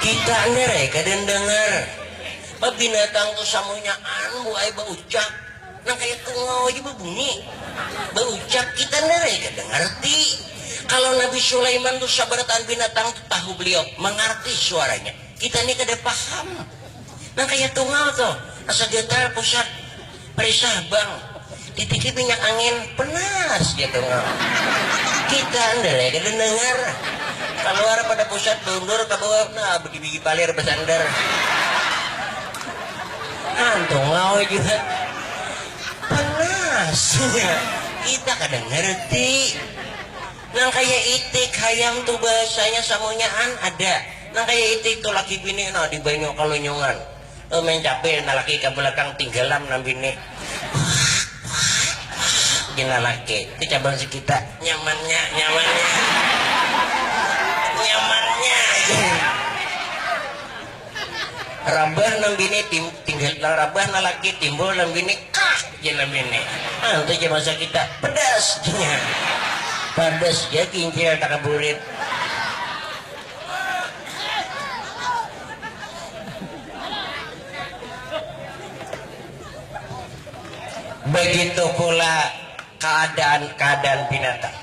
Kita ender eh kada ndangar. Ba binatang tu samunyaan bu ai baucap. Nang kaya tungau aja bebunyi. Baucap kita ender eh kada ngarti. Kalau Nabi Sulaiman tu sabarataan binatang tu tahu beliau, mangarti suaranya. Kita ni kada paham. Nang kaya tungau tu, asa getar pusat. Periksa bang, titiki minyak angin, penas gitu. Kita ndele kada dengar. Kaluar pada pusat baundur ka bawah, nah begibigi palir bersandar. Antung lawa jua. Penas. Kita kada ngerti. Nang kaya itik hayam tu bahasanya samunyaan ada. Nang kaya itik tu laki bini nah di banyu kalunyungan. Main cabe na laki ka belakang tinggalam nang bini pina laki tu cabang si kita nyamannya nyamannya nyamannya rabah nang bini tinggal rabah na laki timbul nang bini kah je nang bini ah tu je masa kita pedas pedas je kincir takaburit Begitu pula kaadaan-kaadaan binatang.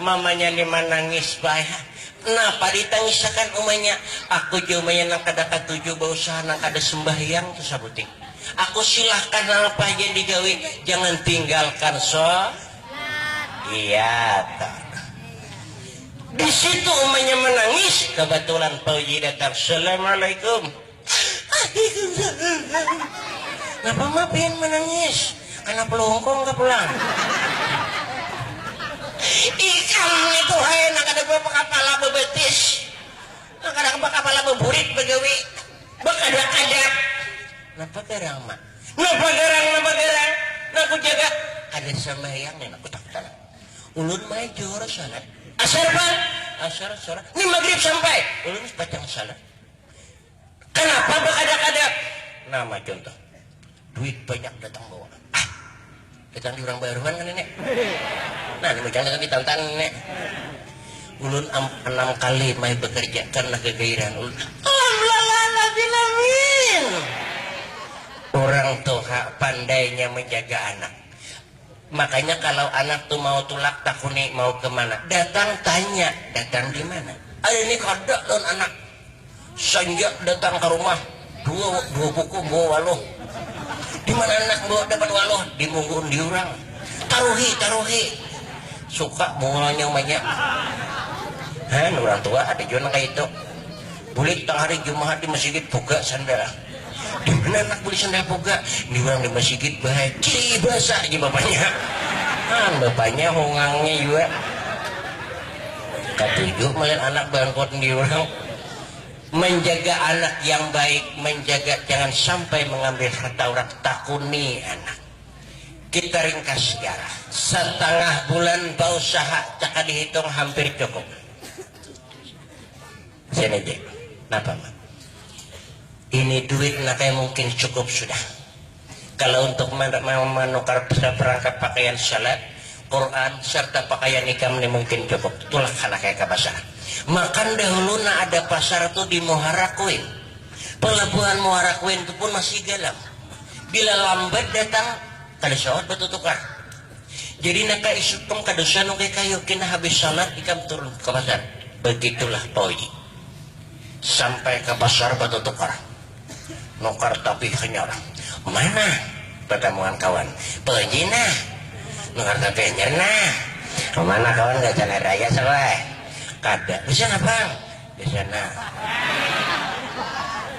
Mamanya ni manangis bae ha. Napa ditangisakan umanya? Aku ja umanya nang kada katuju bausaha, nang kada sumbahyang tu sabuting. Aku silahkan napa haja digawi, jangan tinggalkan so. Iya ta. Di situ umanya menangis, kebetulan Fauji datang. Assalamualaikum. Waalaikumsalam. Napa ma pian menangis? Kana pelungkung ka pulang. Ikam nitu hai nang kada bakapala bebetis, nang kada bakapala beburit begawi, bakada adab. Napa garang ma? Nah bagarang, nah bagarang, nah kujaga, kada sambahyang nih nah kutaktan. Ulun majur salat. Asar pang? Asar salat. Nih magrib sampai? Ulun wis pacang salat. Kanapa bakadap-kadap? Nama contoh? Duit banyak datang bawa. Ah. Gasan urang baruhan kan ini. Nah, ini mujang kagak ditantan ini. Ulun anam kali mai bekerja karena kegairan ulun. Alhamdulillahirrahmanirrahim. Urang tuha pandainya menjaga anak. Makanya kalau anak tu mau tulak takuni mau kemana, datang tanya datang dimana. Ari ini kada lawan anak Sanjak datang ka rumah, dua dua kuku membawa waluh. Di mana anak membawa dapat waluh? Di munggun diurang. Taruhi, taruhi. Suka mungulnya umanya. Han, urang tua ada jua nang kaya itu. Bulik tang hari Jumahat di masigit buka sandara. Dimana anak beli sendal boga? Di urang di masigit bahai. Cii basa aja bapanya. An bapanya hongangnya jua. Katuju malihat anak bangkot di urang. Menjaga anak yang baik, menjaga jangan sampai mengambil harta urang. Takuni anak. Kita ringkas sejarah. Satangah bulan bausaha, cakadihitung hampir cukup. Cnj, napa ma. Ini duit na kaya mungkin cukup sudah. Kalo untuk manukar saparangkat pakaian shalat, Quran, sarta pakaian ikam ni mungkin cukup. Tulak handak kaya kabasaan. Makan dahulu na ada pasar tu di Muhara Kuin. Palabuhan Muhara Kuin tu pun masih galam. Bila lambat datang, kada sawat batutukar. Jadi naka isupang ka dosa nu kaya kayu kena habis salat ikam turun ka pasar. Begitulah Toyi. Sampai ka pasar batutukar. Nukar tapi hanyar. Mana? Batamuan kawan. Toyi nah. Nukar tapi hanyar nah. Mana kawan gasan hari raya Sal ai. Kada. Gasan apang? Di sana.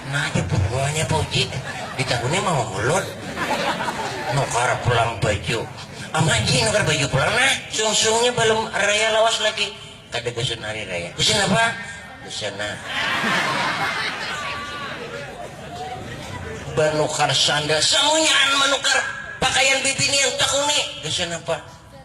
Nah aja pungguannya Pak Uji. Ditakuni mau ulun. Nukar pulang baju. Amat Ji nukar baju pulang nah. Sungsungnya balum raya lawas lagi. Kada gasan hari raya. Gasan apa? Di sana. Banukar sandal. Samunyaan manukar pakaian bibinian. Takuni. Gasan apa?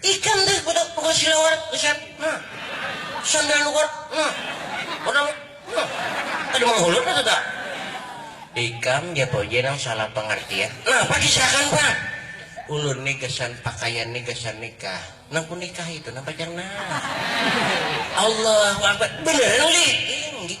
Ikam deh budak tukang silawar gasan nah sandal luar nah benang nah kada manghulur kah tuta. Ikam ja poje nang salah pangartian napa kisahkan pang ulun ni gasan pakaian ni gasan nikah nang ku nikahi tu nah pacar nah Allahu akbar beneran lih inggih.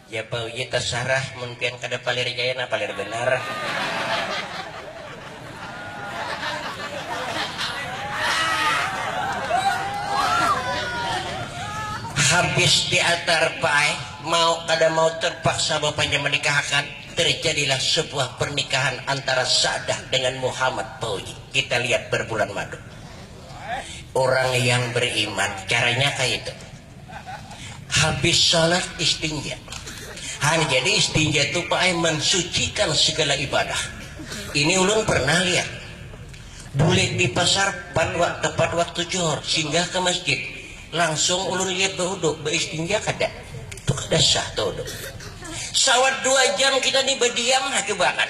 Ya pa uji tasarah mun pian kada palir jaya nah palir banar. Habis diantar pa ai mau kada mau terpaksa bapanjang manikahakan terjadilah sebuah pernikahan antara sa'dah dengan muhammad pa uji kita lihat berbulan madu orang yang beriman caranya kaya itu. Habis salat istinja. Han jadi istinja itu Pak eh, mensucikan segala ibadah. Ini ulun pernah lihat. Bulik di pasar pan waktu tepat waktu johor, singgah ke masjid. Langsung ulun lihat behudu, beistinja kada. Itu kada sah tuh hudu. Sawat dua jam kita nih bediam, ha coba kan.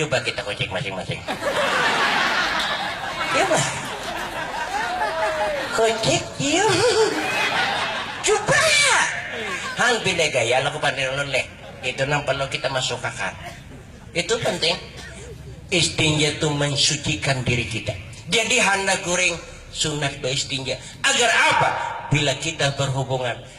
Cuba kita kucek masing-masing. Coba. Kucek dia. Coba. Hang pindah gaya laku pandai ulun leh. Itu nang perlu kita masukakan. Itu penting. Istinja itu mensucikan diri kita. Jadi handak guring sunat beistinja. Agar apa? Bila kita berhubungan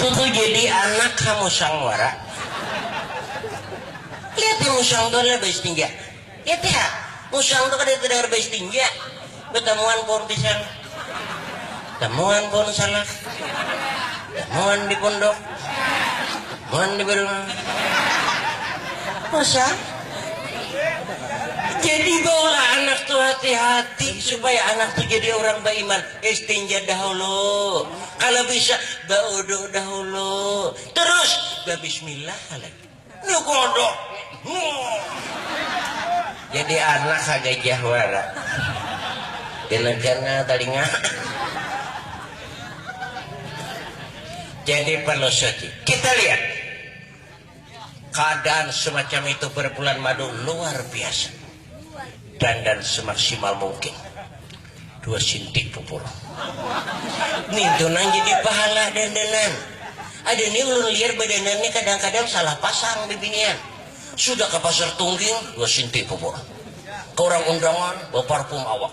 Tutu jadi anak ha musang wara. Lihat nih musang tu adalah bais tinja. Lihat nih ha, musang tu kada tedengar bais tinja. Betamuan pohon pisang. Tamuan pohon salak. Tamuan di pondok. Tamuan di balung. Musang. Jadi bawa anak tu hati-hati supaya anak tu jadi urang baiman. Bais tinja dahulu. Kalo bisa baudu dahulu, terus babismillah lagi. Ni kodok. Jadi anak ha gajah wara. Dinagarnya talinga. Jadi perlu suci. Kita lihat. Kaadaan semacam itu pada bulan madu luar biasa. Dandan semaksimal mungkin. Dua sintik pupur. Nintu nang jadi pahala dandanan. Ada nih ulun liar badanan nih kadang-kadang salah pasang bibinian. Sudah ke pasar tungging, dua sintik pupur. Ke orang undangan, bawa parfum awak.